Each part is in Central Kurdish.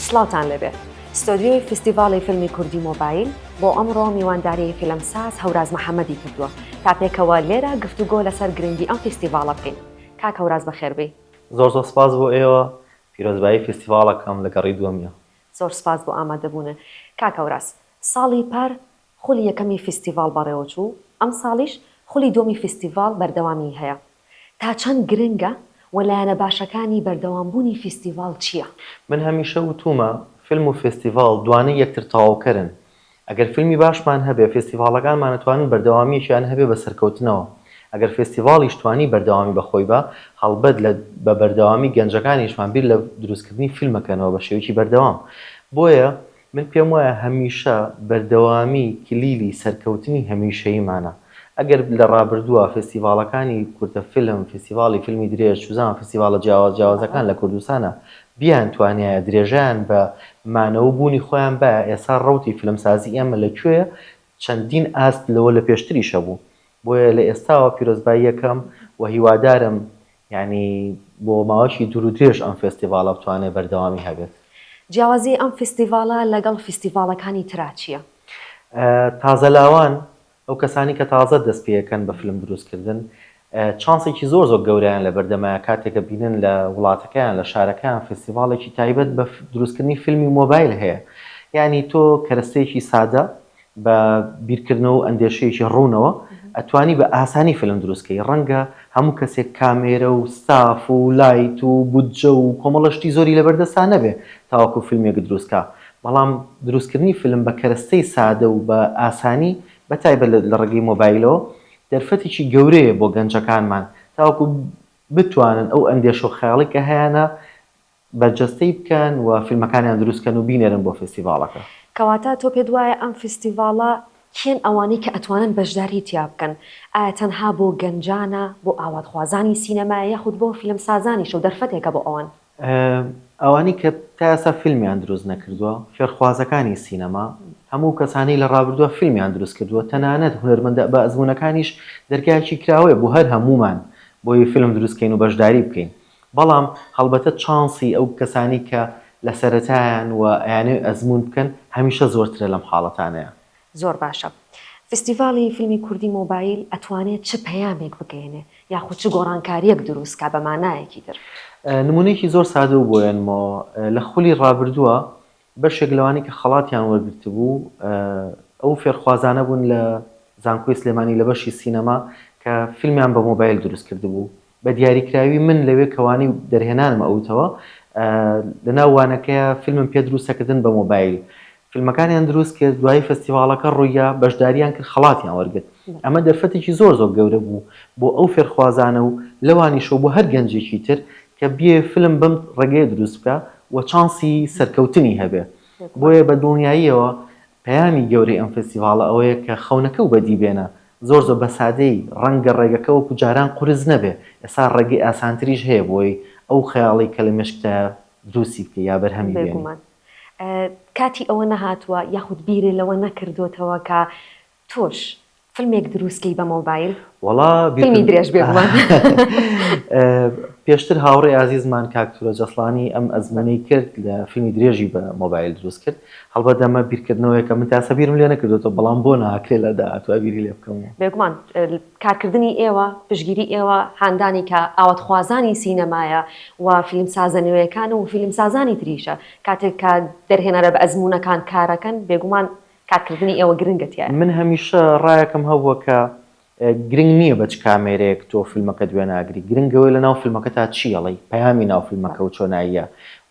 سڵاوتان لێبێت ستۆدیۆی فستیڤاڵی فیلمی کوردی مۆبایل بۆ ئەمڕۆ میوانداری فیلمساز هەوراز محەممەدی کردووە تا پێکەوە لێرە گفتوگۆ لەسەر گرنگی ئەم فستیڤاڵە بکەین کاک هەوراز بەخێربی زۆر زۆر سپاس بۆ ئێوە پیرۆزبایی فستیڤاڵەکەم لە گەڕی دووەمیا. زۆر سپاس بۆ ئامادەبوونە کاک هەوراز ساڵی پار خولی یەکەمی فیستیڤاڵ بەڕێوەچوو، ئەمساڵیش خولی دووەمی فیستیڤاڵ بەردەوامیی هەیە، تا چەند گرنگە و لایەنە باشەکانی بەردەوامبوونی فیستیڤاڵ چییە؟ من هەمیشە وتوومە، فیلم و فیستیڤاڵ دوانەی یەکتر تەواوکەرن، ئەگەر فیلمی باشمان هەبێ، فیستیڤاڵەکانمان ئەتوانن بەردەوامییەکیان هەبێ بە سەرکەوتنەوە، ئەگەر فیستیڤاڵیش توانی بەردەوامی بە خۆی بە، هەڵبەت لە بە بەردەوامی گەنجەکانیشمان بیر لە دروستکردنی فیلم ئەکەنەوە بە شێوەیەکی بەردەوام، بۆیە من پێم وایە هەمیشە بەردەوامی کلیلی سەرکەوتنی هەمیشەییمانە. ئەگەر لە ڕابردووە فێستیڤاڵەکانی کورتە فیلم، فیستیڤاڵی فیلمی درێژ، چوزانم فیستیڤاڵە جیاواز جیاوازەکان لە کوردستانا بیانتوانیایە درێژەیان بە مانەوەو بوونی خۆیان بایە، ئێستا ڕەوتی فیلمسازی ئێمە لە کوێیە؟ چەندین ئاست لەوە لە پێشتریش هەبوو. بۆیە لە ئێستاوە پیرۆزباییەکەم و هیوادارم یانی بۆ ماوەیەکی دوور و درێژ ئەم فێستیڤاڵە بتوانێت بەردەوامی هەبێت. جیاوازی ئەم فیستیڤاڵە لەگەڵ فیستیڤاڵەکانی ترا چییە؟ تازەلاوان، ئەو کەسانی کە تازە دەست پێیەکەن بە فیلم دروستکردن، چانسێکی زۆر زۆر گەورەیان لەبەردەمە کاتێک کە بینن لە وڵاتەکەیان، لە شارەکەیان فیستیڤاڵێکی تایبەت بە دروستکردنی فیلمی مۆبایل هەیە. یانی تۆ کەرەستەیەکی سادە بە بیرکردنەوە و ئەندێشەیەکی ڕوونەوە ئەتوانی بە ئاسانی فیلم دروست کەی ڕەنگە هەموو کەسێک کامێرە و ستاف و لایت و بودجە و کۆمەڵە شتی زۆری لەبەر دەستا نەبێ تاوەکو فیلمێک دروست کا بەڵام دروست کردنی فیلم بە کەرەستەی سادە و بە ئاسانی بە تایبەت لە ڕێگەی مۆبایلەوە دەرفەتێکی گەورەیە بۆ گەنجەکانمان تاوەکو بتوانن ئەو ئەندێشە و خەیاڵەی کە هەیانە بەرجەستەی بکەن و فیلمەکانیان دروست کەن و بینێرن بۆ فیستیڤاڵەکە. کەواتە تۆ پێت وایە ئەم فیستیڤاڵە کێن ئەوانەی کە ئەتوانن بەشداری تیا بکەن؟ ئایا تەنها بۆ گەنجانە، بۆ ئاواتخوازانی سینەمایە یاخود بۆ فیلمسازانیشە و دەرفەتێکە بۆ ئەوان؟ ئەوانەی کە تا ئێستا فیلمیان دروست نەکردووە، فێرخوازەکانی سینەما، هەموو کەسانەی لە ڕابردووە فیلمیان دروست کردووە، تەنانەت هونەرمەندە بەئەزموونەکانیش دەرگایەکی کراوەیە بۆ هەر هەموومان بۆی فیلم دروست کەین و بەشداری بکەین. بەڵام هەڵبەتە چانسی ئەو کەسانەی کە لە سەرەتایەن و ئەیانەوێت ئەزموون بکەن هەمیشە زۆرترە لەم حاڵەتانەیا. زۆر باشە. فیستیڤاڵی فیلمی کوردی مۆبایل ئەتوانێ چ پەیامێک بگەیەنێ یاخود چ گۆڕانکارییەک دروست کا بە مانایەکی تر؟ نموونەیەکی زۆر سادە و بۆیەنمەوە، لە خولی ڕابردووە بەشێک لەوانەی کە خەڵاتیان وەرگرتبوو ئەو فێرخوازانە بوون لە زانکۆی سلێمانی لە بەشی سینەما کە فیلمیان بە مۆبایل دروست کردبوو، بە دیاریکراوی من لەوێ کە وانەی دەرهێنانم ئەوتەوە لەناو وانەکەیا فیلمم پێ دروستەکردن بە مۆبایل فیلمەکانیان دروست کرد دوایی فستیڤاڵەکە ڕوویا بەشداریان کرد خەڵاتیان وەرگرت ئەمە دەرفەتێکی زۆر زۆر گەورە بوو بۆ ئەو فێرخوازانە و لەوانیشەوە بۆ هەر گەنجێکی تر کە بیەوێ فلم بەم ڕێگەیە دروست بکا و چانسی سەرکەوتنی هەبێ. بۆیە بە دڵنیاییەوە پەیامی گەورەی ئەم فێستیڤاڵە ئەوەیە کە خەونەکەو بەدی بێنە. زۆر زۆر بە سادەیی ڕەنگە ڕێگەکە وەکو جاران قورس نەبێ، ئێستا ڕێگەی ئاسانتریش هەیە بۆی ئەو خەیاڵەی کە لە مێشکتایە دروستی بکەی یا بەرهەمی بێنی. بێگومان کاتی ئەوە نەهاتووە یاخود بیرێ لەوە نەکردۆتەوە کە تۆش فلمێک دروست کەی بە مۆبایل؟ وەڵا فیلمی درێژ بێ بڵێ پێشتر هاوڕێ ئازیزمان کاک تورە جەسڵانی ئەم ئەزمونەی کرد لە فیلمی درێژی بە مۆبایل دروست کرد هەڵبەت دەمە بیرکردنەوەیەکە من تاسە بیرم لێ نەکردێتەوە بەڵام بۆ ناکرێ لە داهاتوە بیری لێ بکەم بێگومان کارکردنی ئێوە پشگیری ئێوە هاندانی کە ئاواتخوازانی سینەمایە و فیلمسازە نوێیەکان و فیلمسازانی تریشە کاتێک کە دەرهێنەرە بە ئەزمونونەکان کارەکەن بێگومان کات کردنی ئێوە گرنگە تیایا. من هەمیشە ڕایەکم هەبووە کە گرنگ نییە بە چ کامێرەیەک تۆ فیلمەکەت وێناگری، گرنگ ئەوەیە لە ناو فیلمەکەتا چی ئەڵێی، پەیامی ناو فیلمەکە و چۆناییە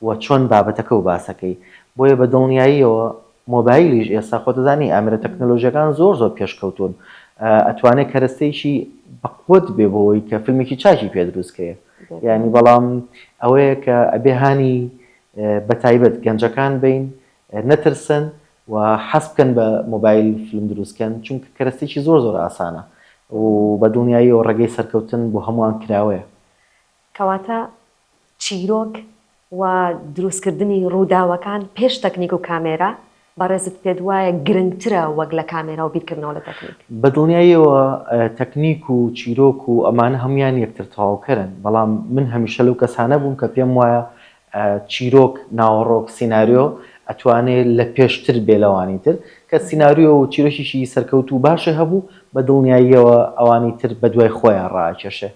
و چۆن بابەتەکە و باسەکەی. بۆیە بە دڵنیاییەوە مۆبایلیش ئێستا خۆت دەزانی ئامێرە تەکنەلۆژییەکان زۆر زۆر پێشکەوتوون، ئەتوانێ کەرەستەیەکی بەقوەت بێ بۆ ئەوەی کە فیلمێکی چاکی پێ دروست کەیە. یانی بەڵام ئەوەیە کە ئەبێ هانی بە تایبەت گەنجەکان بەین نەترسن و حەز بکەن بە مۆبایل فلم دروست کەن چونکە کەرەستێکی زۆر زۆر ئاسانە و بە دڵنیاییەوە ڕێگەی سەرکەوتن بۆ هەمووان کراوەیە. کەواتە چیرۆک و دروست کردنی ڕووداوەکان پێش تەکنیک و کامێرا بەڕێزت پێت وایە گرنگترە وەک لە کامێرا و بیرکردنەوە لە تەکنیک؟ بە دڵنیاییەوە تەکنیک و چیرۆک و ئەمانە هەموویان یەکتر تەواوکەرن بەڵام من هەمیشە لەو کەسانە بووم کە پێم وایە چیرۆک، ناوەڕۆک، سیناریۆ ئەتوانێ لە پێشتر بێ لەوانی تر، کە سیناریۆ و چیرۆکێکی سەرکەوتوو و باشێ هەبوو، بە دڵنیاییەوە ئەوانی تر بە دوای خۆیان ڕائەکێشێ.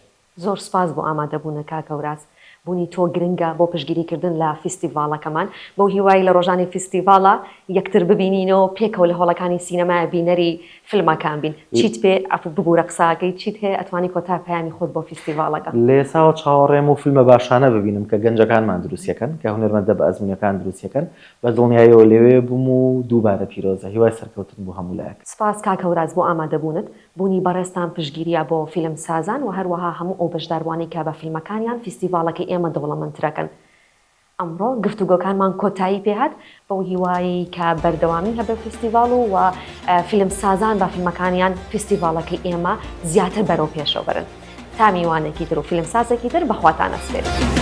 زۆر سوپاس بۆ ئامادەبوونە کاک هەوراز، بوونی تۆ گرنگە بۆ پشتگیری کردن لە فیستیڤاڵەکەمان، بەو هیوای لە ڕۆژانی فیستیڤاڵا یەکتر ببینینەوە و پێکەوە لە هۆڵەکانی سینەمای بینەری فلمەکان بین چیت پێ عەفو ببورە قساکەی چیت هەیە ئەتوانی کۆتا پەیامی خۆت بۆ فیستیڤاڵەکە. لەئێساوە چاوەڕێم و فلمە باشانە ببینم کە گەنجەکانمان دروستیەکەن کە هونەرمەندە بە ئەزمونەکان دروستیەکەن بە دڵنیایەوە لەوێ بوم و دووبارە پیرۆزە هیوای سەرکەوتن بۆ هەموو لایەک. سپاس کاک هەوراز بۆ ئامادەبوونت، بوونی بەڕێزتان پشتگیریە بۆ فیلم سازان وە هەروەها هەموو ئەو بەشداروانەی کە بە فیلمەکانیان فیستیڤاڵەکەی ئێمە دەوڵەمەندترەکەن ئەمڕۆ گفتوگۆکانمان کۆتایی پێهات، بەو هیوایەی کە بەردەوامی هەبێ فیستیڤاڵ و و فیلمسازان بە فیلمەکانیان فیستیڤاڵەکەی ئێمە زیاتر بەرەو پێشەوە بەرن. تا میوانێکی تر و فیلمسازێکی تر بەخواتان ئەسپێرین.